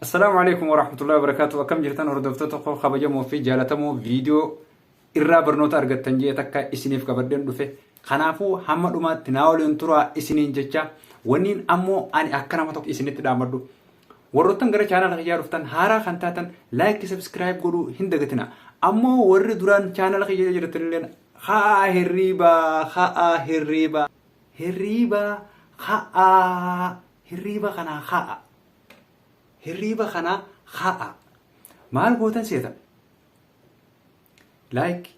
Assalaamu alaikum warahmatullahi wabarakatuh akkam jirtan hordoftoota koo kabajamoo fi jaalatamoo viidiyoo irraa barnoota argattan jee takka isiniif qabadheen dhufe kanaafuu hamma dhumaatti naa waliin turaa isiniin jecha wanniin ammoo ani akka nama tokko isinitti dhaamadhu warroottan gara chaanaala kiyyaa dhuftan haaraa kan taatan laayikii sabskiraayib godhuu hin dagatina ammoo warri duraan chaanaala kiyya jirtanilleen haa hirriibaa haa hirriibaa Hirriiba ka'aa. Hirriiba kanaa ka'a. Hirriiba kanaa ka'a. Maal gootan seetan? Like.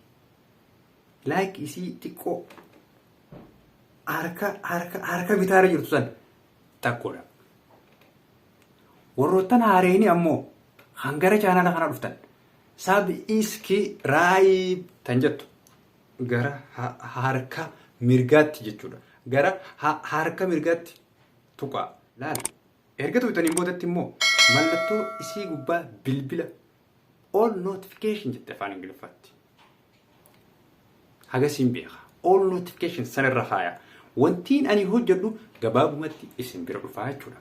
Like isii xiqqoo harka harka harka bitaarra jirtu san takkoodha. Warroottan haareenii ammoo kan gara chaanala kana dhuftan sab iski raayib tan jettu gara harka mirgaatti jechuudha. Gara harka mirgaatti tuqaa. Laal. Erga tuqxaniin boodatti immoo mallattoo isii gubbaa bilbila all notification jette afaan ingiliffaatti. Hagasiin beeka. All notification sanarra kaaya. Wantiin ani hojjedhu gabaabumatti isin bira dhufaa jechuudha.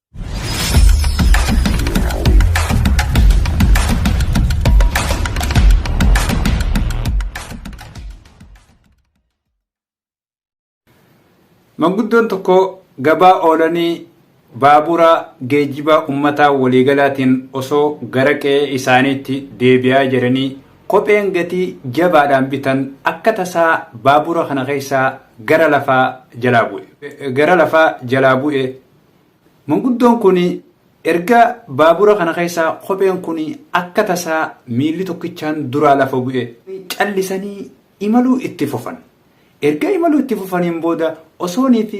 Manguddoon tokko gabaa oolanii baabura geejjibaa ummataa waliigalaatiin osoo gara qe'ee isaaniitti deebi'aa jiranii kopheen gatii jabaadhaan bitan akka tasaa baabura kana keessaa gara lafaa jalaa bu'e. Gara lafaa jalaa bu'e Manguddoon kun erga baabura kana keessaa kopheen kun akka tasaa miilli tokkichaan duraa lafa bu'e. Callisanii imaluu itti fufan. Erga imaluu itti fufaniin booda osoonii fi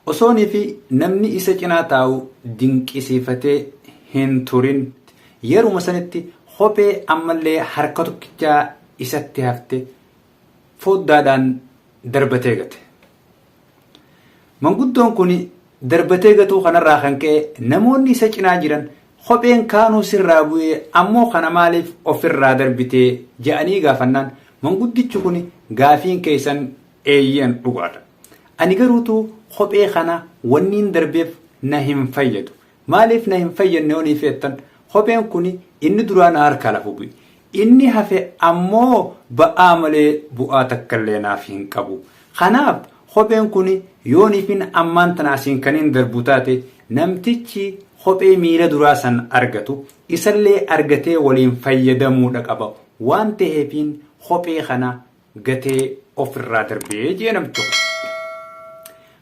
osoonii fi namni isa cinaa taa'u dinqisiifatee hin turin. Yeruma sanitti kophee ammallee harka tokkichaa isatti hafte foddaadhaan darbatee gate. Manguddoon kun darbatee gatuu kanarraa kan ka'e namoonni isa cinaa jiran kopheen kaanuu sirraa bu'ee ammoo kana maaliif ofirraa darbitee ja'anii gaafannaan manguddichi kun gaafiin keessan eeyyan dhugaadha. Ani garuutuu kophee kana wanniin darbeef na hin fayyadu. Maaliif na hin fayyadne yoo niif jettan, kopheen kun inni duraa na harkaa lafu bu'e. Inni hafe ammoo ba'aa malee bu'aa takkallee naaf hin qabu. Kanaaf kopheen kun yoo niifin ammaan tana asiin kaniin darbu taate namtichi kophee miila duraa san argatu isallee argatee waliin fayyadamuudha qaba waan taheefiin kophee kana gatee of irraa darbee jee namchi kun.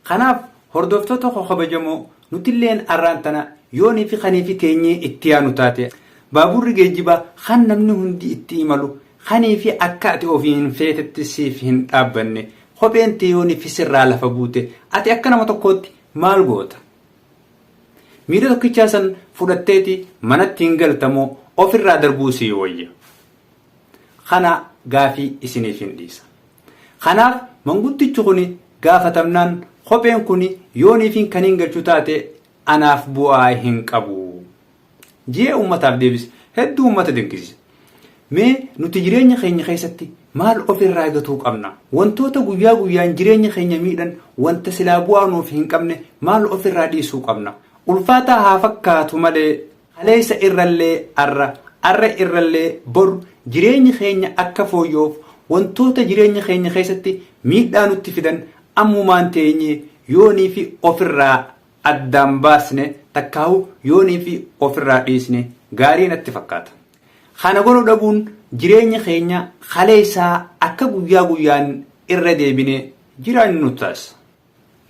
Kanaaf hordoftoota koo kabajamoo nutilleen arraan tana yoo nifi kaniifi teenyee itti yaanu taate baabuurri geejjiba kan namni hundi itti imalu kaniifi akka ati ofiin feetetti siif hin dhaabbanne kopheen tee yoo nifi sirraa lafa buute ati akka nama tokkootti maal goota? Miila tokkichaa san fudhatteeti manatti hin galtamoo of irraa darbuu sii wayya? Kana gaafii isiniifin dhiisa. Kanaaf manguddichi kuni gaafatamnaan kopheen kuni yooniifin kaniin galchu taate anaaf bu'aa hin qabu. Je'ee ummataaf deebise. Hedduu ummata dinqisiise. Mee nuti jireenya keenya keessatti maal of irraa gatuu qabna? Wantoota guyyaa guyyaan jireenya keenya miidhan wanta silaa bu'aa nuuf hin qabne maal of irraa dhiisuu qabna? Ulfaataa haa fakkaatu malee Kaleessa irrallee arra, arra irrallee bor jireenyi keenya akka fooyyoof wantoota jireenya keenya keessatti miidhaa nutti fidan ammumaan teenyee yoonii fi ofirraa addaan baasne takkaahu yoonii fi ofirraa dhiisne gaarii natti fakkaata. Kana godhu dhabuun jireenya keenya kaleessaa akka guyyaa guyyaan irra deebinee jiraannu nu taasisa.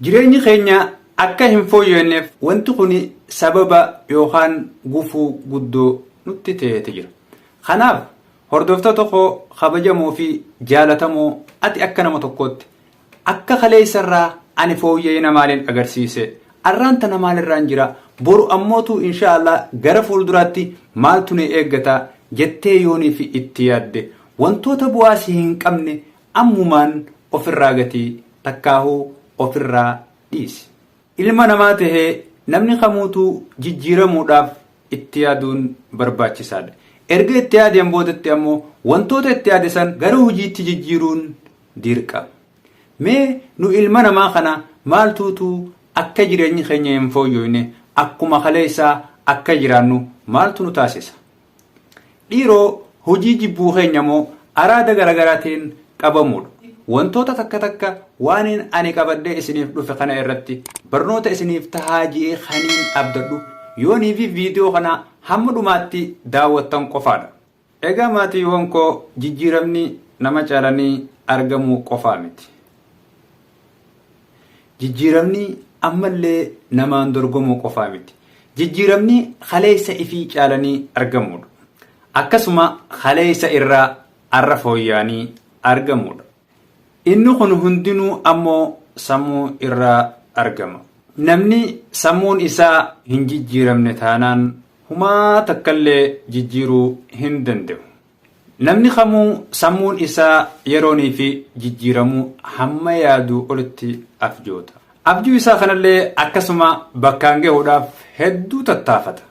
Jireenyi keenya akka hin fooyya'neef wanti kuni sababa yookaan gufuu guddoo nutti ta'eeti jira. Kanaaf hordoftoota koo kabajamoo fi jaalatamoo ati akka nama tokkootti akka kaleessa irraa ani fooyya'ina maaliin agarsiise? Arraan tana maalirraan jira? Boru ammootu inshaa Allah gara fuulduraatti maaltu na eeggata jettee yooniif itti yaadde wantoota bu'aa si hin qabne Ammumaan ofirraa gati takkaahuu ofirraa dhiisi. Ilma namaa tahee namni kamuutuu jijjiiramuudhaaf itti yaaduun barbaachisaadha. Erga itti yaadeen boodatti ammoo wantoota itti yaade san gara hojiitti jijjiiruun dirqama. Mee nu ilma namaa kana maaltuutu akka jireenyi keenya hin fooyyooyne akkuma kaleessaa akka jiraannu maaltu nu taasisa? Dhiiroo hojii jibbuu keenya moo araada garagaraatiin qabamuudha. Wantoota takka takka waaniin ani qabadhee isiniif dhufe kana irratti barnoota isiniif tahaa je'ee kaniin abdadhu yoonii fi viidiyoo kana hamma dhumaatti daawwattan qofaadha. Egaa maatiiwwan koo jijjiiramni nama caalanii argamuu qofaa miti. Jijjiiramni ammallee namaan dorgomuu qofaa miti. Jijjiiramni kaleessa ifii caalanii argamuudha. Akkasuma kaleessa irraa arra fooyya'anii argamuudha. Inni kun hundinuu ammoo sammuu irraa argama. Namni sammuun isaa hin jijjiiramne taanaan humaa takkallee jijjiiruu hin danda'u. Namni kamuu sammuun isaa yerooniifi jijjiiramuu hamma yaaduu olitti abjoota. Abjuu isaa kanallee akkasuma bakkaan gahuudhaaf hedduu tattaafata.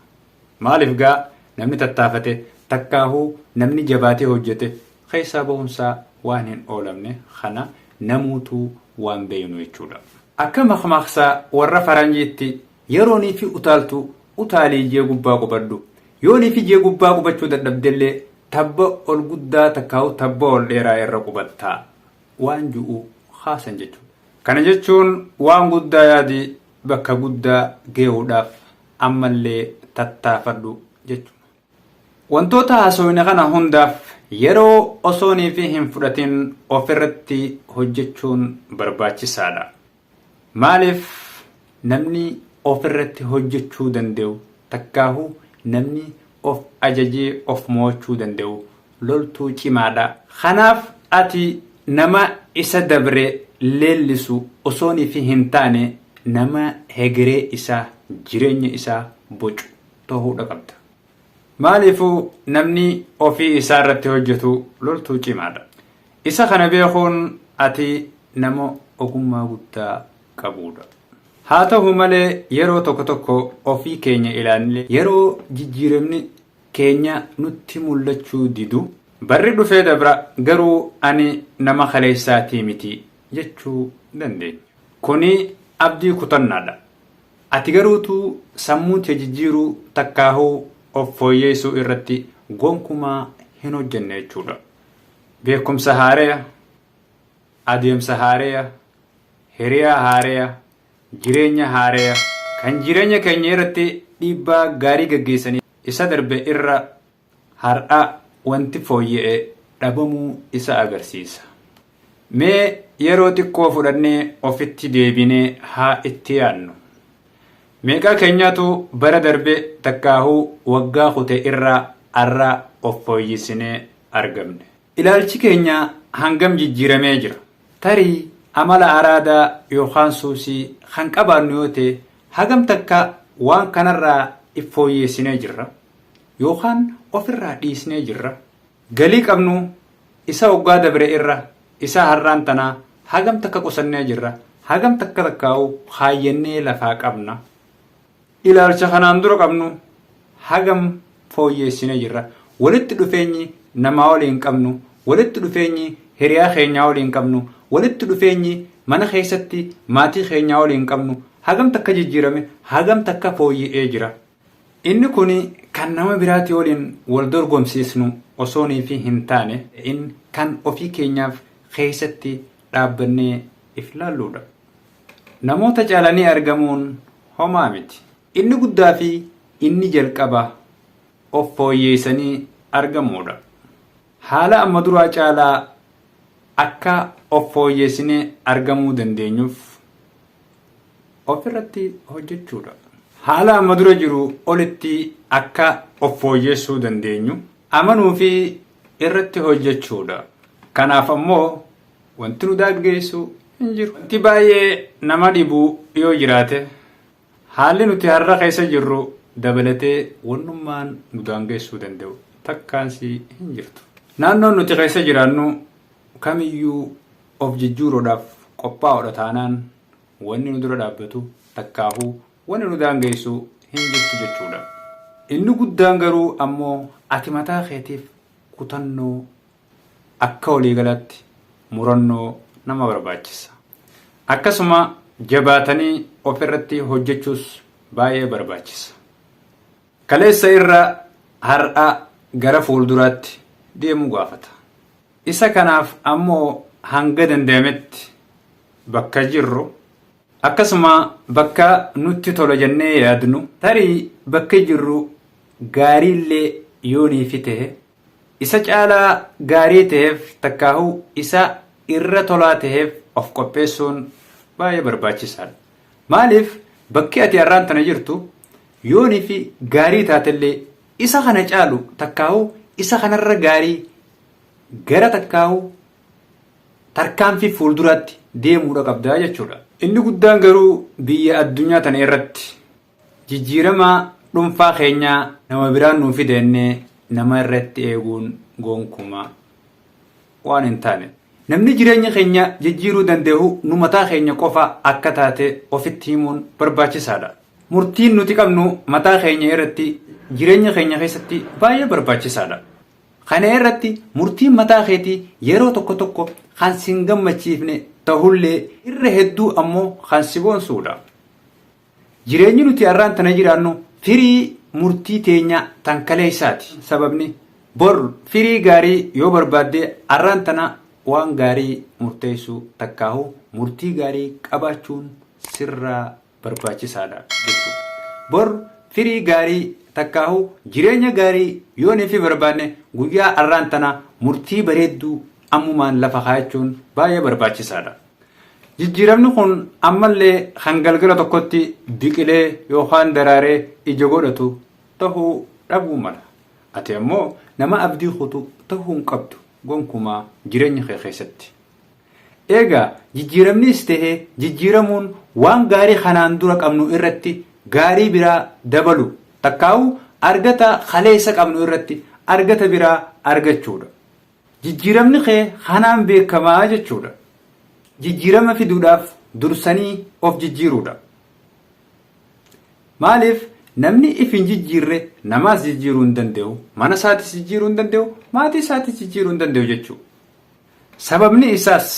Maaliif gaa namni tattaafate takkaahuu namni jabaatee hojjete keessaa bahunsaa waan hin oolamne kana namuutuu waan beeknu jechuudha. Akka makmaaksa warra faranjiitti Yeroo niitii utaaltu utaalii ijee gubbaa qubadhu. Yoo niitii ijee gubbaa qubachuu dadhabdellee tabba ol guddaa takkaahu tabba ol dheeraa irra qubatta waan ju'u kaasan jechuudha. Kana jechuun waan guddaa yaadi bakka guddaa geehuudhaaf ammallee tattaafadhu jechuudha. Wantoota haasofne kana hundaaf yeroo osooniifi hin fudhatin ofirratti hojjechuun barbaachisaadha. Maaliif namni ofirratti hojjechuu danda'u takkaahuu namni of ajajee of mo'achuu danda'u loltuu cimaadha. Kanaaf ati nama isa dabre leellisu osooniifi hin taane nama hegeree isaa, jireenya isaa bocu. dhohuudha qabda. Maaliifuu namni ofii isaa irratti hojjetu loltuu cimaadha. Isa kana beekuun ati nama ogummaa guddaa qabuudha. Haa ta'u malee yeroo tokko tokko ofii keenya ilaallee yeroo jijjiiramni keenya nutti mul'achuu didu barri dhufee dabra garuu ani nama kaleessaatii miti jechuu dandeenya. Kuni abdii kutannaadha. Ati garuu utuu sammuu tee jijjiiruu takkaahuu of fooyyeessuu irratti gonkumaa hin hojjenne jechuudha. Beekumsa haareya, adeemsa haareya, hiriyaa haareya, jireenya haareya kan jireenya keenya irratti dhiibbaa gaarii gaggeessanii isa darbe irra, Har'a wanti fooyya'e dhabamuu isaa agarsiisa. Mee yeroo xiqqoo fudhannee ofitti deebinee haa itti yaadnu. Meeqaa keenyaatu bara darbe takkaahuu waggaa kute irraa har'a of fooyyisinee argamne? Ilaalchi keenya hangam jijjiiramee jira? Tarii amala araadaa yookaan suusii kan qabaannu yoo ta'e hagam takka waan kanarraa if fooyyeessinee jirra? Yookaan of irraa dhiisnee jirra? Galii qabnu isa waggaa dabre irra isa har'aan tanaa hagam takka qusannee jirra? Hagam takka takkaa'uu kaayyannee lafaa qabna? Ilaalcha kanaan dura qabnu hagam fooyyeessinee jirra? Walitti dhufeenyi namaa waliin qabnu, walitti dhufeenyi hiriyaa keenyaa waliin qabnu, walitti dhufeenyi mana keessatti maatii keenyaa waliin qabnu hagam takka jijjiirame? Hagam takka fooyya'ee jira? Inni kun kan nama biraatii waliin wal dorgomsiisnu osoo niifi hin taane in kan ofii keenyaaf keessatti dhaabbannee if laalluudha. Namoota caalanii argamuun homaa miti. Inni guddaa fi inni jalqaba of fooyyeessanii argamuudha. Haala amma duraa caalaa akka of fooyyeessinee argamuu dandeenyuuf of irratti hojjechuu dha. Haala amma dura jiru olitti akka of fooyyeessuu dandeenyu amanuu fi irratti hojjechuu dha. Kanaaf ammoo wanti nu daaggeessu hin jiru. Wanti baay'ee nama dhibu yoo jiraate. Haalli nuti har'a keessa jirru dabalatee wannummaan nu daangeessuu danda'u takkaansii hin jirtu. Naannoon nuti keessa jiraannu kamiyyuu of jijjuuruudhaaf qophaa'oodha taanaan wanni nu dura dhaabbatu takkaahuu wanni nu daangeessu hin jirtu jechuudha. Inni guddaan garuu ammoo ati mataa keetiif kutannoo akka waliigalaatti murannoo nama barbaachisa. Akkasuma jabaatanii ofirratti hojjechuus baay'ee barbaachisa. Kaleessa irra har'a gara fuulduraatti deemuu gaafata. Isa kanaaf ammoo hanga danda'ametti bakka jirru akkasuma bakka nutti tola jennee yaadnu tarii bakki jirru gaariillee yoo niifi ta'e Isa caalaa gaarii taheef takkaahuu isa irra tolaa taheef of qopheessuun baay'ee barbaachisaadha. Maaliif bakki ati har'aan tana jirtu yoonii fi gaarii taatellee isa kana caalu takkaahuu isa kanarra gaarii gara takkaahuu tarkaanfii fuulduraatti deemuudha qabda jechuudha. Inni guddaan garuu biyya addunyaa tana irratti Jijjiirama dhunfaa keenya nama biraan nuu fida jennee nama irratti eeguun gonkumaa waan hin taane. Namni jireenya keenya jijjiiruu danda'u nu mataa keenya qofa akka taate ofitti himuun barbaachisaadha. Murtiin nuti qabnu mataa keenya irratti jireenya keenya keessatti baay'ee barbaachisaadha. Kana irratti murtiin mataa keetii yeroo tokko tokko kan sin gammachiifne ta'ullee irra hedduu ammoo kan si boonsuudha. Jireenyi nuti arraan tana jiraannu firii murtii teenya tan kaleessaati. Sababni bor firii gaarii yoo barbaadde arraan tana waan gaarii murteessuu takkaahu murtii gaarii qabaachuun sirraa barbaachisaadha jechuudha. Bor firii gaarii takkaahu jireenya gaarii yoo nefi barbaanne guyyaa arraan tana murtii bareedduu ammumaan lafa kaayachuun baay'ee barbaachisaadha. Jijjiiramni kun ammallee kan galgala tokkotti biqilee yookaan daraaree ija godhatu tahuu dhabuu mala. Ati ammoo nama abdii kutu tahuu hin qabdu gonkumaa jireenya kee keessatti. Eegaa jijjiiramnis tahe jijjiiramuun waan gaarii kanaan dura qabnu irratti gaarii biraa dabalu takkaa'uu argata kaleessa qabnu irratti argata biraa argachuudha. Jijjiiramni kee kanaan beekama jechuudha. Jijjiirama fiduudhaaf dursanii of jijjiiruudha. Maaliif namni if hin jijjiirre namaas jijjiiruu hin danda'u, mana isaatis jijjiiruu hin danda'u, maatii isaatis jijjiiruu hin danda'u jechuudha. Sababni isaas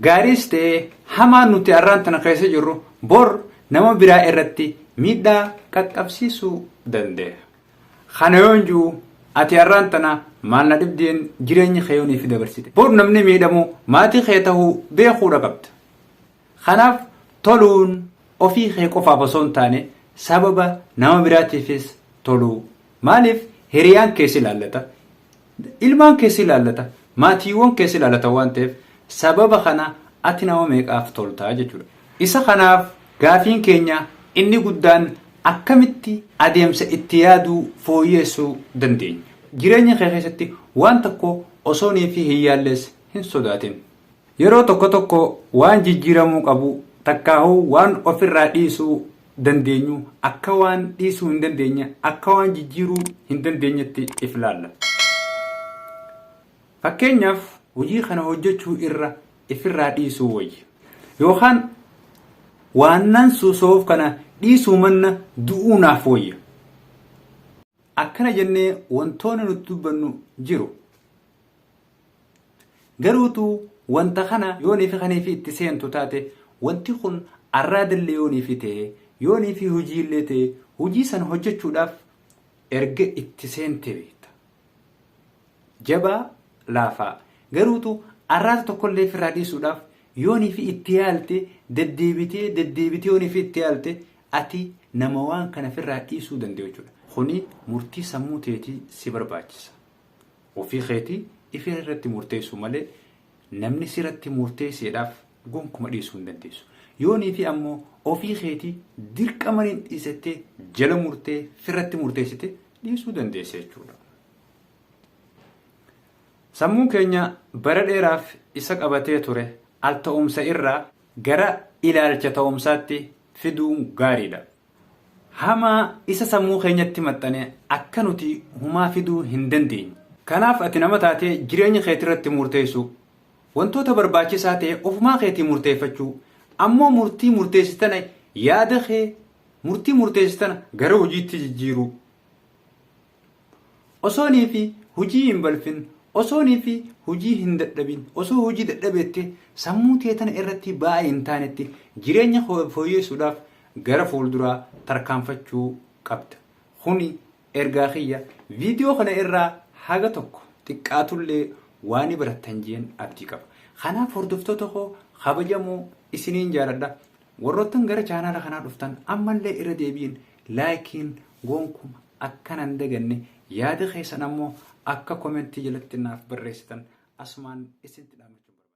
gaariis ta'ee hamaan nuti arraan tana keessa jirru bor nama biraa irratti miidhaa qaqqabsiisuu danda'a. Kana yoon ji'u ati har'aan tana maal na dhibdeen jireenya kee yoon ifi dabarsite. Bor namni miidhamu maatii kee tahuu beekuudha qabda. Kanaaf toluun ofii kee qofaaf osoo hin taane sababa nama biraatiifis toluu. Maaliif hiriyaan kee si ilaallata. Ilmaan kee si ilaallata, maatiiwwan kee si ilaalatan waan ta'eef sababa kana ati nama meeqaaf tolta jechuudha. Isa kanaaf gaafiin keenya inni guddaan akkamitti adeemsa itti yaaduu fooyyeessuu dandeenya? Jireenya kee keessatti waan tokko osoonii fi hin yaalles hin sodaatin. Yeroo tokko tokko waan jijjiiramuu qabu takkaahuu waan ofirraa dhiisuu dandeenyu akka waan dhiisuu hin dandeenye, akka waan jijjiiruu hin dandeenyetti if ilaalla. Fakkeenyaaf hojii kana hojjechuu irra ifirraa dhiisuu wayya. Yookaan waannan suusoof kana dhiisuu manna du'uu naaf wayya. Akkana jennee wantoonni nuti dubbannu jiru. Garuu tu wanta kana yoonii fi kanii fi itti seentu taate wanti kun arraadallee yoonii fi ta'e yoonii fi hojii illee ta'e hojii san hojjechuudhaaf erga itti seente beekta. Jabaa laafaa garuu tu arraata tokkollee firraa dhiisuudhaaf yoonii fi itti yaalte deddeebitee deddeebitee yoonii fi itti yaalte ati nama waan kana firraa dhiisuu danda'u jechuudha. Kuni murtii sammuu teetii si barbaachisa. Ofii keeti ifee irratti murteessuu malee namni siratti murteesseedhaaf gonkuma dhiisuu hin dandeessu. Yoo niitii ammoo ofii keeti dirqama nin dhiisettee jala murtee firratti murteessite dhiisuu dandeessa jechuudha. Sammuun keenya bara dheeraaf isa qabatee ture al ta'umsa irraa gara ilaalcha ta'umsaatti fiduun gaariidha. hamaa isa sammuu keenyatti maxxane akka nuti humaa fiduu hin dandeenye. Kanaaf ati nama taatee jireenya keetirratti muurteessuu, wantoota barbaachisaa ta'e ofumaa keetii murteeffachuu, ammoo murtii murteessitana yaada kee murtii murteessitana gara hojiitti jijjiiruu. Osoo nii fi hujii hin balfin, osoo nii fi hujii hin dadhabin, osoo hujii dadhabeetti sammuu tee tana irratti ba'aa hin taanetti jireenya koo fooyyeessuudhaaf gara fuulduraa tarkaanfachuu qabda. Kuni ergaa kiyya viidiyoo kana irraa haga tokko xiqqaatullee waa ni barattan jeen abdii qaba. Kanaaf hordoftoota koo kabajamoo isiniin jaaladha. Warroottan gara chaanaala kanaa dhuftan ammallee irra deebiin laayikiin goonkuma akka nan daganne yaada keessan ammoo akka komentii jalatti naaf barreessitan asumaan isinitti dhaammachuun barbaada.